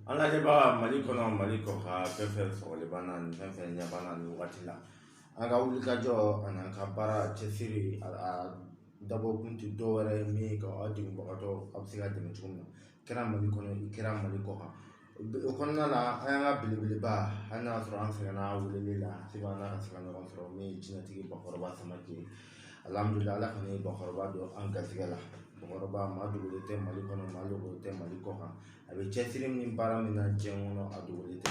an lajɛbaga mali kɔnɔ mali kɔ kan fɛn fɛn sɔgɔli b'an na ni fɛn fɛn ɲɛ b'an na nin wagati la an ka wulikajɔ ani an ka baara cɛsiri a dabɔkun tɛ dɔwɛrɛ ye min ka aw degunbagatɔ aw bɛ se ka dɛmɛ cogo min na kɛra mali kɔnɔ i kɛra mali kɔ kan o kɔnɔna la an y'an ka belebeleba hali n'a sɔrɔ an sɛgɛnna weleli la se b'an na ka se ka ɲɔgɔn sɔrɔ min ye jinɛtigi bakɔrɔba samake alihamudulila ala kɔni ye bakɔrɔba don an garisɛgɛ la bakɔrɔba maa dogolen tɛ mali kɔnɔ maa dogolen tɛ mali kɔ kan a bɛ cɛsiri min baara min na diɲɛ kɔnɔ a dogolen tɛ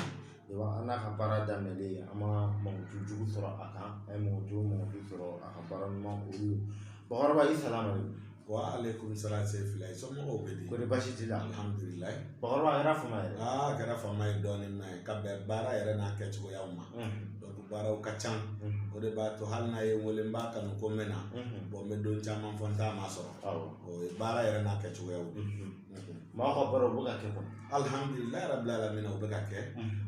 an n'a ka baara daminɛlen an ma mɔgɔ jugu sɔrɔ a kan an ye mɔgɔ jugu mɔgɔ sɔrɔ a ka baara ɲuman olu bakɔrɔba salamu wa aleyikumu salamu se fila ye somɔgɔw bɛ di kɔni basi t'i la alihamudulila bakɔrɔba a kɛra fama ye aa a kɛra fama ye dɔɔnin mɛ ka bɛn baara yɛrɛ n'a kɛcogoyaw ma baaraw ka ca o de b'a to hali n'a ye n wele n b'a kanu ko n bɛ na bɔn n bɛ don caman fɔ n t'a masɔrɔ o ye baara yɛrɛ n'a kɛcogoyaw maa ka baaraw bɛ ka kɛ kɔni alihamudulila rabi alamina u bɛ ka kɛ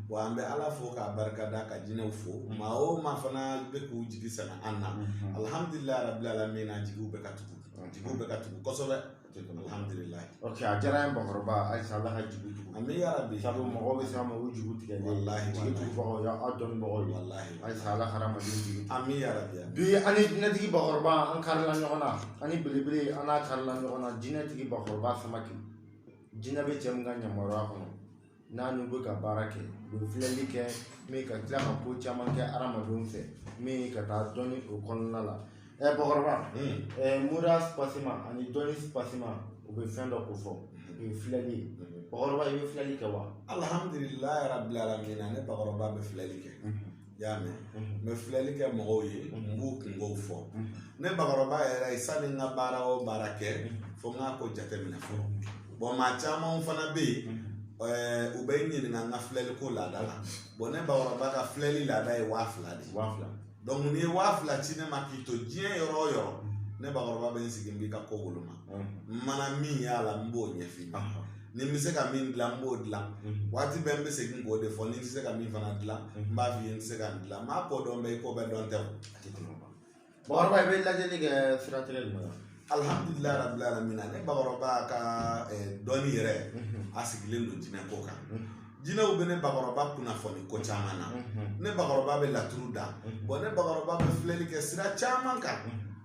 wa an bɛ ala fo k'a barika da ka jinɛw fo maa o maa fana bɛ k'u jigi sɛmɛ an na alihamudulila rabi alamina jigiw bɛ ka tugu jigiw bɛ ka tugu kosɛbɛ alihamudulila ok a diyara n ye bakɔrɔba ayisa ala ka jigi tugu amiina yarabi sabu mɔgɔw bɛ s'a ma u jigi tigɛ walahi jigi tugubagaw aw dɔnnibagaw walahi ayisa ala hadamaden jigin an min yɛrɛ bi bi an ni jinɛtigi bakɔrɔba an karila ɲɔgɔn na an ni belebele an n'a karila ɲɔgɔn na jinɛtigi bakɔrɔba samake jinɛ bɛ cɛ min ka yamaruya kɔnɔ n'a n'u bɛ ka baara kɛ u bɛ filɛli kɛ min ka tila ka ko caman kɛ hadamadenw fɛ min ka taa dɔnni o kɔnɔna la ɛ eh, bakɔrɔba hmm. eh, mura spasima ani dɔnni spasima u bɛ fɛn dɔ kofɔ o ye filɛli ye hmm. bakɔrɔba i bɛ filɛli kɛ wa alhamdulilayi rabil alamina ne bakɔrɔba bɛ filɛli kɛ hmm. y'a mɛn n bɛ filɛli kɛ mɔgɔw ye n b'u kungow fɔ ne bakɔrɔba yɛrɛ ye sani n ka baara o baara kɛ fo n k'a ko jateminɛ fɔlɔ bɔn maa camanw fana bɛ yen Eh, u bɛ n ɲininka n ka filɛliko laada la bɔn ne bakɔrɔba ka filɛli laada ye waa fila de ye waa fila dɔnku n'i ye waa fila ci ne ma k'i to diɲɛ yɔrɔ o yɔrɔ ne bakɔrɔba bɛ n sigi n b'i ka ko woloma n mana min y'a la n b'o ɲɛf'i ma ni n bɛ se ka min dilan n b'o dilan waati bɛɛ n bɛ segin k'o de fɔ ni n tɛ se ka min fana dilan n b'a f'i ye n tɛ se ka nin dilan maa ko dɔn bɛ i ko bɛɛ dɔn tɛ o bakɔrɔba i bɛ lajɛli kɛ siratigɛ jumɛn na alihamudulila rabili alamina ne bakɔrɔba ka dɔnni yɛrɛ a sigilen don jinɛ ko kan jinɛw bɛ ne bakɔrɔba kunnafoni ko caman na ne bakɔrɔba bɛ laturu da bɔn ne bakɔrɔba bɛ filɛli kɛ sira caman kan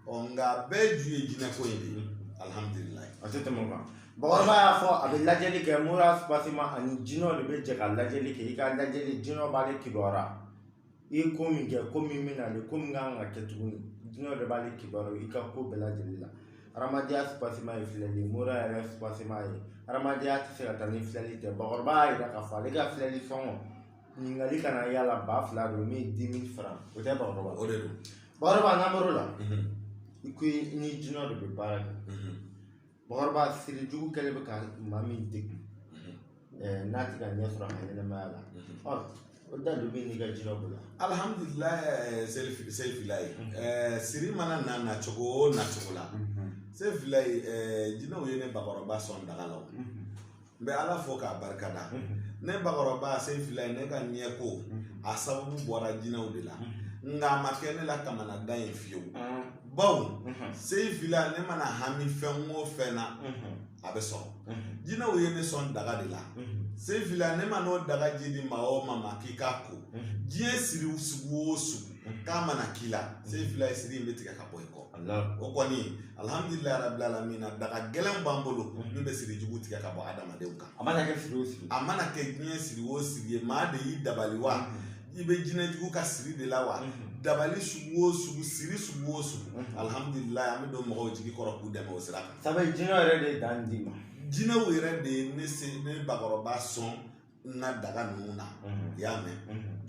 ɔ nka bɛɛ ju ye jinɛ ko in de ye alihamudulila a tɛ tɛmɛ o kan bakɔrɔba y'a fɔ a bɛ lajɛli kɛ mura basima ani jinɛw de bɛ jɛ ka lajɛli kɛ i ka lajɛli jinɛw b'ale kibaruya i ye ko min kɛ ko min bɛ na ale ko min kan ka kɛ tuguni jinɛ de b'ale kibaru i ka ko bɛɛ lajɛlen la adamadenya subasima ye filɛli mura yɛrɛ subasima ye adamadenya tɛ se ka taa ni filɛli tɛ bakɔrɔba y'a jira k'a fɔ ale ka filɛli sɔngɔ ɲininkali kana y'a la ba fila don min ye dix mille francs o tɛ bakɔrɔba o de don bakɔrɔba n'an bɔr'o la i ko i ni jinɛ de bɛ baara kɛ bakɔrɔba siri jugu kɛlen bɛ ka maa min degun n'a tɛ ka ɲɛ sɔrɔ a ka ɲɛnɛmaya la o da don bɛ n'i ka jira bolo alihamdulilayi sefilaye siri mana na na cogo o na cogo la sefilaye jinɛw ye ne bakɔrɔba sɔn daga la n bɛ ala fo k'a barikada ne bakɔrɔba sefilaye ne ka ɲɛ ko a sababu bɔra jinɛw de la nka a ma kɛ ne la kamanagan ye fiyewu bawo sefila ne mana hami fɛn o fɛn na a bɛ sɔrɔ jinɛw ye ne sɔn daga de la sefila ne man'o daga ji di maa o maa ma k'i k'a ko diɲɛ siri sugu o sugu k'a mana k'i la sefilaye siri in bɛ tigɛ ka bɔ i kɔ o kɔni alihamdulilayi rabil alamina daga gɛlɛn b'an bolo min bɛ siri jugu tigɛ ka bɔ adamadenw kan a mana kɛ siri o siri a mana kɛ diɲɛ siri o siri ye maa de y'i dabali wa i bɛ jinɛjugu ka siri de la wa dabali sugu o sugu siri sugu o sugu alihamdulilayi an bɛ don mɔgɔw jigi kɔrɔ k'u dɛmɛ o sira kan sabu jinɛ yɛrɛ de ye daga di n ma jinɛw yɛrɛ de ye ne se ne bakɔrɔba sɔn n ka daga ninnu na i y'a mɛn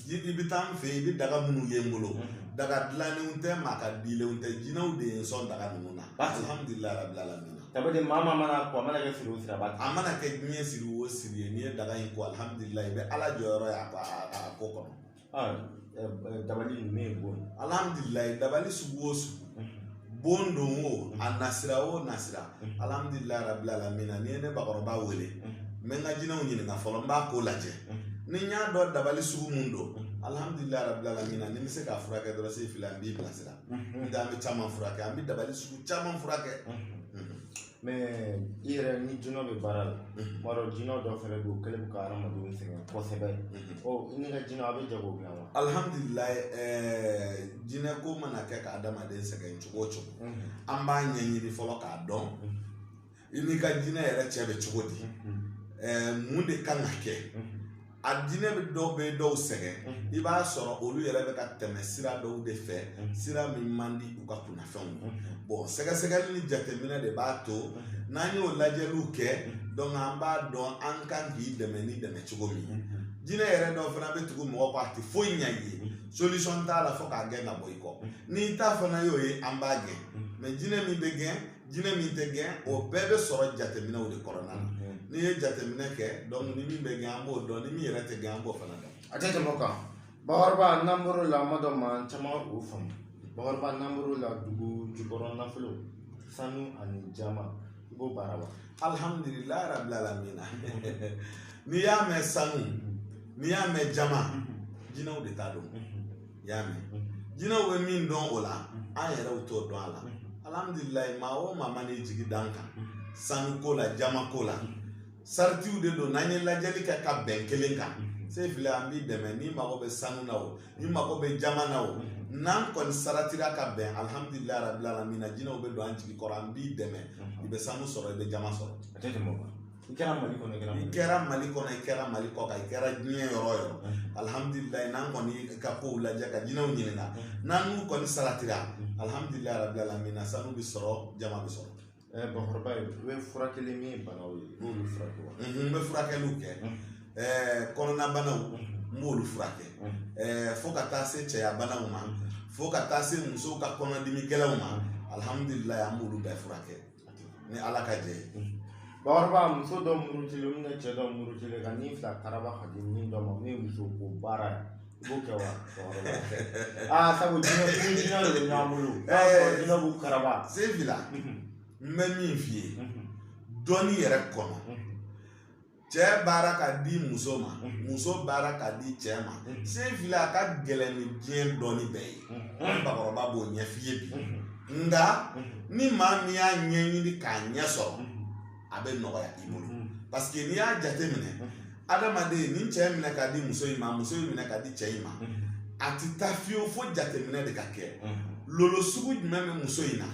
i bɛ taa n fɛ yen i bɛ daga minnu ye n bolo daga dilannenw tɛ maa ka dilenw tɛ jinɛw de ye n sɔn daga ninnu na alhamdulilayi rabil alamina dabali maa maa mana ko a mana kɛ siri o siri a b'a a mana kɛ diɲɛ siri o siri ye n'i ye daga in ko alhamdulilayi i bɛ ala jɔyɔrɔ ye a ko kɔnɔ dabali ninnu ye bon ye alhamdulilayi dabali sugu o sugu bon don o a nasira o nasira alhamdulilayi rabil alamina n'i ye ne bakɔrɔba wele n bɛ n ka jinɛw ɲininka fɔlɔ n b'a ko lajɛ ni n y'a dɔn dabali sugu mun don alhamdulilayi rabil alamina ni n bɛ se k'a furakɛ dɔrɔn sefila n b'i bilasira ntɛ an bɛ caman furakɛ an bɛ dabali sugu caman furakɛ mɛ i yɛrɛ ni jinɛ bɛ baara la an b'a dɔn jinɛ dɔ fɛnɛ bɛ yen o kɛlen bɛ ka hadamadenw sɛgɛn kosɛbɛ ɔ i n'i ka jinɛ a bɛ jago bila wa alihamdulilayi jinɛ ko mana kɛ ka hadamaden sɛgɛn cogo o cogo an b'a ɲɛɲini fɔlɔ k'a dɔn i n'i ka jinɛ yɛrɛ cɛ bɛ cogo di mun de kan ka kɛ a jinɛ bɛ dɔw bɛ dɔw sɛgɛn i b'a sɔrɔ olu yɛrɛ bɛ ka tɛmɛ sira dɔw de fɛ sira min man di u ka kunnafɛnw ye bɔn sɛgɛsɛgɛli ni jateminɛ de b'a to n'an y'o lajɛliw kɛ dɔnku an b'a dɔn an kan k'i dɛmɛ ni dɛmɛ cogo min ye jinɛ yɛrɛ dɔw fana bɛ tugu mɔgɔ kɔ a tɛ foyi ɲɛ i ye solisɔn t'a la fo k'a gɛn ka bɔ i kɔ n'i ta fana y'o ye an b'a gɛn mɛ jinɛ min bɛ gɛn jinɛ min tɛ gɛn o bɛɛ bɛ sɔrɔ jateminɛw de kɔnɔna na mhm. n'i ye jateminɛ kɛ dɔnku ni min bɛ gɛn an b'o dɔn ni min yɛrɛ tɛ gɛn an b'o fana dɔn a tɛ tɛmɛ o kan bakɔrɔba n'an bɔr'o la maa dɔ maa caman o faamu bakɔrɔba n'an bɔr'o la dugu jukɔrɔ nafolo sanu ani jaman i b'o baara wa alihamudulilayi rabil alamina n'i y'a mɛn sanu n'i y'a mɛn jaman jinɛw de ta don i y'a mɛn jinɛw bɛ min dɔn o la an yɛrɛw t'o dɔn a la alhamdulilayi maa o maa man'i jigi d'an kan sanu ko la jaman ko la saratiw de don n'an ye lajɛli kɛ ka bɛn kelen kan se filɛ an b'i dɛmɛ n'i mago bɛ sanu na o n'i mago bɛ jaman na o n'an kɔni saratira ka bɛn alhamdulilayi rabil alamina jinɛw bɛ don an jigi kɔrɔ an b'i dɛmɛ i bɛ sanu sɔrɔ i bɛ jaman sɔrɔ a tɛ tɛmɛ o kan i kɛra mali kɔnɔ i kɛra mali i kɛra mali kɔnɔ i kɛra mali kɔkan i kɛra diɲɛ yɔrɔ o yɔrɔ alihamudulilayi n'an kɔni ka kow lajɛ ka jinɛw ɲininka n'an n'u kɔni saratira alihamudulilayi rabi alamina sanu bɛ sɔrɔ jaman bɛ sɔrɔ bakɔrɔba ye u bɛ furakɛli min ye banaw ye n'olu furakɛ wa n bɛ furakɛliw kɛ kɔnɔnabanaw n b'olu furakɛ fo ka taa se cɛya banaw ma fo ka taa se musow ka kɔnɔdimi gɛlɛnw ma alihamudulilayi an b'olu bɛɛ furakɛ ni ala ka jɛ bakɔrɔba muso dɔ murutilen min cɛ dɔ murutilen ka ni fila karaba ka di min dɔ ma min muso ko baara ye i b'o kɛ wa aa sabu jinɛ kun jinɛ de bɛ ɲɔgɔn bolo jinɛ b'u karaba se fila n bɛ min f'i ye dɔnni yɛrɛ kɔnɔ cɛ baara ka di muso ma mhm. muso baara ka di cɛ ma mhm. se fili a ka gɛlɛn ni diɲɛ dɔnni bɛɛ ye an mhm. bakɔrɔba b'o ɲɛf'i ye bi nka ni maa min y'a ɲɛɲini k'a ɲɛ sɔrɔ a bɛ nɔgɔya i bolo paseke n'i y'a jateminɛ adamaden ni cɛ minɛ ka di muso in ma muso in minɛ ka di cɛ in ma a ti taa fiyewu fo jateminɛ de ka kɛ lolo sugu jumɛn bɛ muso in na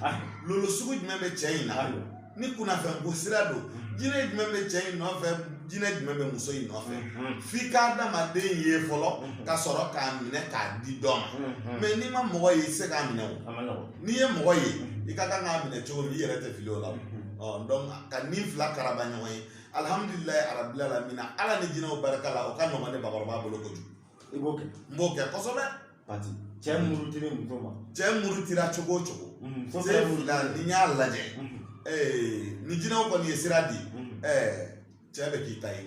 lolo sugu jumɛn bɛ cɛ in na ni kunnafɛn ko sira don jinɛ jumɛn bɛ cɛ in nɔfɛ jinɛ jumɛn bɛ muso in nɔfɛ f'i ka adamaden ye fɔlɔ ka sɔrɔ k'a minɛ k'a di dɔ ma mɛ n'i ma mɔgɔ ye i tɛ se k'a minɛ o n'i ye mɔgɔ ye i ka kan k'a minɛ cogo min i yɛrɛ tɛ fili o la dɔnku ka ni fila karaba ɲɔgɔn ye alihamudulilayi arabil alamina ala ni jinɛw barika la o ka nɔgɔn ne bakɔrɔba bolo kojugu i b'o kɛ n b'o kɛ kosɛbɛ pati cɛ murutira muso ma cɛ murutira cogo o cogo muso se fana fila murutira n'i y'a lajɛ Mhm, ee, ni jinɛw kɔni ye sira di mhm. ɛɛ, cɛ bɛ k'i ta ye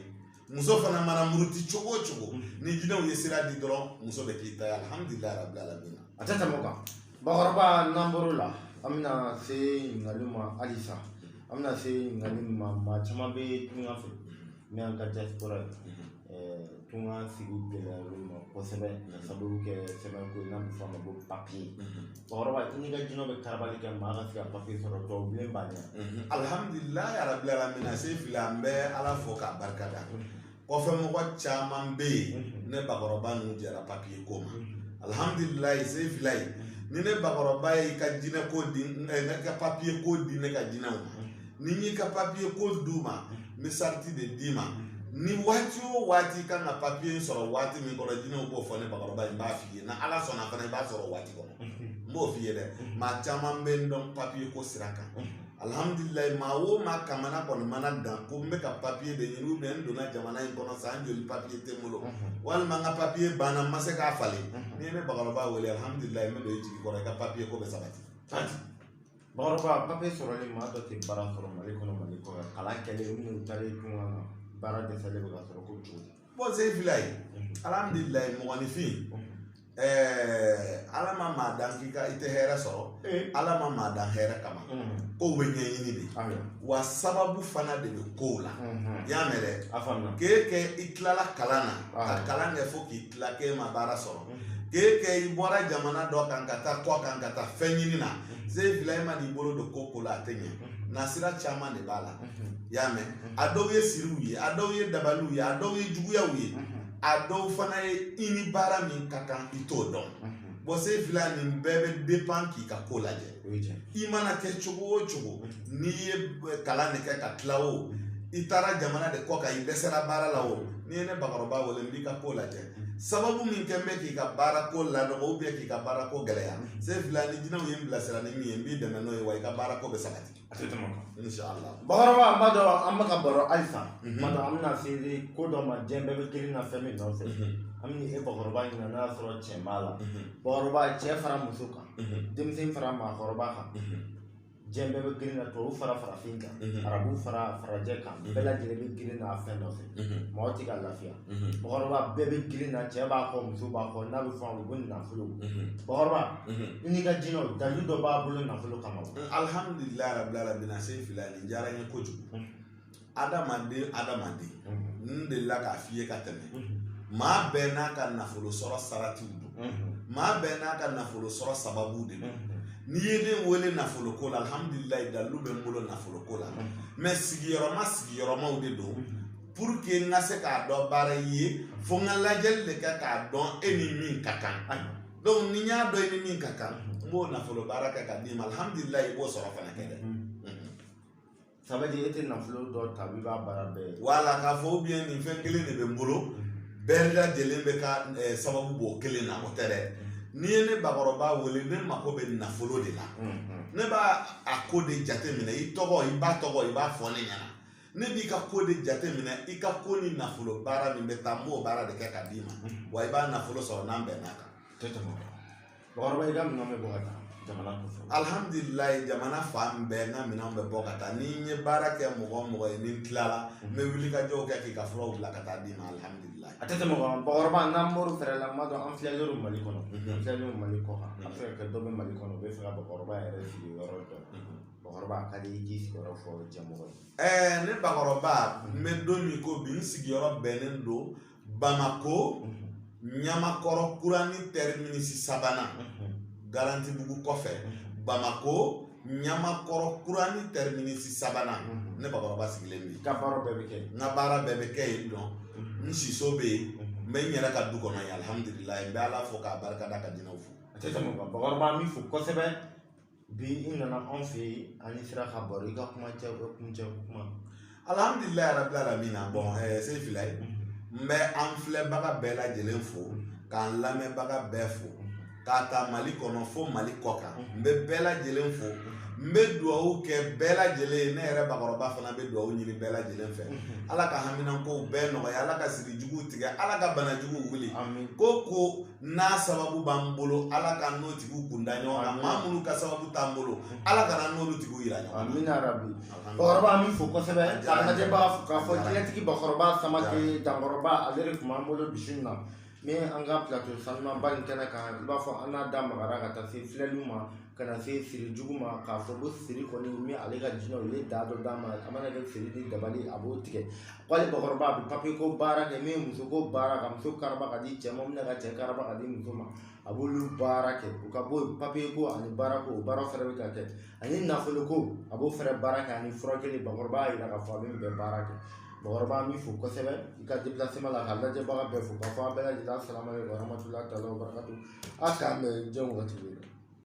muso fana mana muruti cogo o cogo Mhm. ni jinɛw ye sira di dɔrɔn muso bɛ k'i ta ye alihamudulilayi rabi alamina a tɛ tɛmɛ o kan bakɔrɔba n'an bɔr'o la an bɛna se ɲininkaliw ma halisa an bɛna se ɲininkali min ma maa caman bɛ tunga fɛ min y'an ka diaspora ye tunga sigi gɛlɛya olu ma kosɛbɛ ka sababu kɛ sɛbɛn ko n'a bɛ fɔ a ma ko papiye bakɔrɔba n'i ka jinɛ bɛ ka dabali kɛ maa ka se ka papiye sɔrɔ dɔw bilen b'a ɲɛ alihamudulilayi rabili alamina se fili an bɛ ala fo k'a barika da kɔfɛ mɔgɔ caman bɛ yen ne bakɔrɔba ninnu jɛra papiye ko ma alihamudulila se fila ye ni ne bakɔrɔba ye i ka jinɛ ko di ne ka papiye ko di ne ka jinɛw ma ni n y'i ka papiye ko d'u ma n bɛ sarati de d'i ma ni waati o waati kan ka papiye in sɔrɔ waati min kɔnɔ jinɛw b'o fɔ ne bakɔrɔba ye n b'a f'i ye ni ala sɔnna fana i b'a sɔrɔ waati kɔnɔ n b'o f'i ye dɛ maa caman bɛ n dɔn papiye ko sira kan alihamudulilayi maa o maa kamana kɔni mana gan ko n bɛ ka papiye de ɲini ubiyɛn n donna jamana in kɔnɔ san joli papiye tɛ n bolo walima n ka papiye banna n ma se k'a falen n'i ye ne bakɔrɔba wele alihamudulilayi n bɛ don i jigi kɔrɔ i ka papiye ko bɛ sabati bakɔrɔba papiye sɔrɔlen maa dɔ tɛ baara sɔrɔ mali kɔnɔ mali kɔnɔ kalan kɛlen minnu taalen tunga na baara dɛsɛlen bɛ ka sɔrɔ ko cogo di bɔn se fila ye alhamdulilayi mɔgɔninfin ala ma maa dan k'i tɛ hɛrɛ sɔrɔ ala ma maa dan hɛrɛ kama kow bɛ ɲɛɲini de wa sababu fana de bɛ kow la i y'a mɛn dɛ k'e kɛ i tilala kalan na ka kalan kɛ fo k'i la k'e ma baara sɔrɔ k'e kɛ i bɔra jamana dɔ kan ka taa kɔkan ka taa fɛn ɲini na se fila e man'i bolo don ko ko la a tɛ ɲɛ nasira caman de b'a la i y'a mɛn a dɔw ye siriw ye a dɔw ye dabaliw ye a dɔw ye juguyaw ye a dɔw fana ye i ni baara min ka kan i t'o dɔn bɔn se fila nin bɛɛ bɛ depan k'i ka ko lajɛ i mana kɛ cogo o cogo n'i ye kalan de kɛ ka tila o i taara jamana de kɔkan i dɛsɛra baara la o n'i ye ne bakɔrɔba wele n b'i ka ko lajɛ sababu min kɛ bɛ k'i ka baara ko lanɔgɔ u bɛ k'i ka baara ko gɛlɛya se fila ni jinɛw ye n bilasira ni min ye n b'i dɛmɛ n'o ye wa i ka baara ko bɛ sabati bakɔrɔba an b'a dɔn an bɛ ka baro halisa mhm. ma dɔn an bɛna se ko dɔ ma diɲɛ bɛɛ bɛ girin na fɛn min nɔfɛ mhm. an bɛ e bakɔrɔba ɲininka n'a y'a sɔrɔ cɛ b'a la mhm. bakɔrɔba cɛ fara muso kan denmisɛn fara maakɔrɔba kan diɲɛ bɛɛ bɛ girin na tubabu fara farafin kan arabu fara farajɛ kan bɛɛ lajɛlen bɛ girin na fɛn nɔfɛ mɔgɔ tɛ ka lafiya bakɔrɔba bɛɛ bɛ girin na cɛ b'a kɔ muso b'a kɔ n'a bɛ fɔ a ma ko nafolo bakɔrɔba i n'i ka jinɛw dalu dɔ b'aw bolo nafolo kama wa alihamudulilayi rabili alamina se fila nin diyara n ye kojugu adamaden adamaden n delila k'a f'i ye ka tɛmɛ maa bɛɛ n'a ka nafolo sɔrɔ saratiw don maa bɛɛ n'a ka nafolo sɔrɔ sababu de don n'i ye ne wele nafolo ko la alhamdulilayi dalilu bɛ n bolo nafolo ko la mɛ sigiyɔrɔma sigiyɔrɔmaw de don pour que n ka se ka dɔ baara i ye fo n ka lajɛli de kɛ k'a dɔn e ni min ka kan donc ni n y'a dɔn i ni min ka kan n b'o nafolo baara kɛ ka d'i ma alhamdulilayi i b'o sɔrɔ fana kɛ dɛ sabati e tɛ nafolo dɔ ta i b'a baara bɛɛ ye wala k'a fɔ ou bien nin fɛn kelen de bɛ n bolo bɛɛ lajɛlen bɛ ka eh, sababu b'o kelen na o tɛ dɛ n'i ye ne bakɔrɔba wele ne mako bɛ nafolo de la ne b'a a ko de jate minɛ i tɔgɔ i ba tɔgɔ i b'a fɔ ne ɲɛna ne b'i ka ko de jate minɛ i ka ko ni nafolo baara min bɛ taa n b'o baara de kɛ ka d'i ma wa i b'a nafolo sɔrɔ n'an bɛnn'a kan Bakɔrɔba i ka minɛn bɛ bɔ ka taa jamana kɔfɛ alihamdulilayi jamana fan bɛɛ n ka minɛnw bɛ bɔ ka taa ni n ye baara kɛ mɔgɔ o mɔgɔ ye ni n tilala n bɛ wulikajɔw kɛ k'i ka furaw bila ka taa d'i ma alihamdulilayi a tɛ tɛmɛ o kan bakɔrɔba n'an bɔr'o fɛɛrɛ la n b'a dɔn an filɛlen don mali kɔnɔ an filɛlen don mali kɔ kan a bɛ se ka kɛ dɔ bɛ mali kɔnɔ u bɛ fɛ ka bakɔrɔba yɛrɛ sigiyɔrɔ dɔn bakɔrɔba a ka di i k'i sigiyɔrɔ fɔ jɛmɔgɔ ye ɛɛ ne bakɔrɔba n bɛ don min ko bi n sigiyɔrɔ bɛnnen don bamako ɲamakɔrɔ kurani tɛriminisi sabanan garantibugu kɔfɛ bamako ɲamakɔrɔ kurani tɛriminisi sabanan ne bakɔrɔba sigilen bɛ yen n ka baara bɛɛ bɛ kɛ yen nɔ n siso bɛ yen n bɛ n yɛrɛ ka du kɔnɔ yen alihamudulilayi n bɛ ala fo k'a barika da ka jinɛw fo a tɛ tɛmɛ o kan bakɔrɔba an b'i fo kosɛbɛ bi i nana anw fɛ yen an ni sira ka baro i ka kuma cɛ o kuncɛ o kuma alhamdulilayi rabili alamina bɔn ɛɛ se fila ye n bɛ an filɛbaga bɛɛ lajɛlen fo k'an lamɛnbaga bɛɛ fo k'a ta mali kɔnɔ fo mali kɔ kan n bɛ bɛɛ lajɛlen fo n bɛ dugawu kɛ bɛɛ lajɛlen ye ne yɛrɛ bakɔrɔba fana bɛ dugawu ɲini bɛɛ lajɛlen fɛ ala ka haminankow bɛɛ nɔgɔya ala ka siri juguw tigɛ ala ka bana juguw wuli ko ko n'a sababu b'an bolo ala k'an n'o tigiw kunda ɲɔgɔn kan maa minnu ka sababu t'an bolo ala kan'an n'olu tigiw yira ɲɔgɔn na amina rabi bakɔrɔba an b'i fo kosɛbɛ adamaden b'a fɔ k'a fɔ jinɛtigi bakɔrɔba samakɛ dankɔrɔba ale de tun b'an bolo bi su in na ni an ka plateau sanumaba in kɛnɛ kan i b'a fɔ an n'a da magara ka taa se filɛliw ma ka na se siri jugu ma k'a fɔ ko siri kɔni min ale ka jinɛw ye da dɔ d'a ma a mana kɛ siri ni dabali a b'o tigɛ wali bakɔrɔba a bɛ papiye ko baara kɛ min ye muso ko baara ka muso karaba ka di cɛ ma ni ka cɛ karaba ka di muso ma a b'olu baara kɛ u ka bɔ papiye ko ani baara ko o baara fɛnɛ bɛ ka kɛ ani nafolo ko a b'o fɛnɛ baara kɛ ani furakɛli bakɔrɔba y'a yira k'a fɔ a bɛ nin bɛɛ baara kɛ bakɔrɔba an b'i fo kosɛbɛ i ka depilasema la ka lajɛbaga bɛɛ fo k'a fɔ an bɛɛ lajɛlen salama ye warahmatulahi taala wabarakatu a k'an bɛn diɲɛ wagati bɛɛ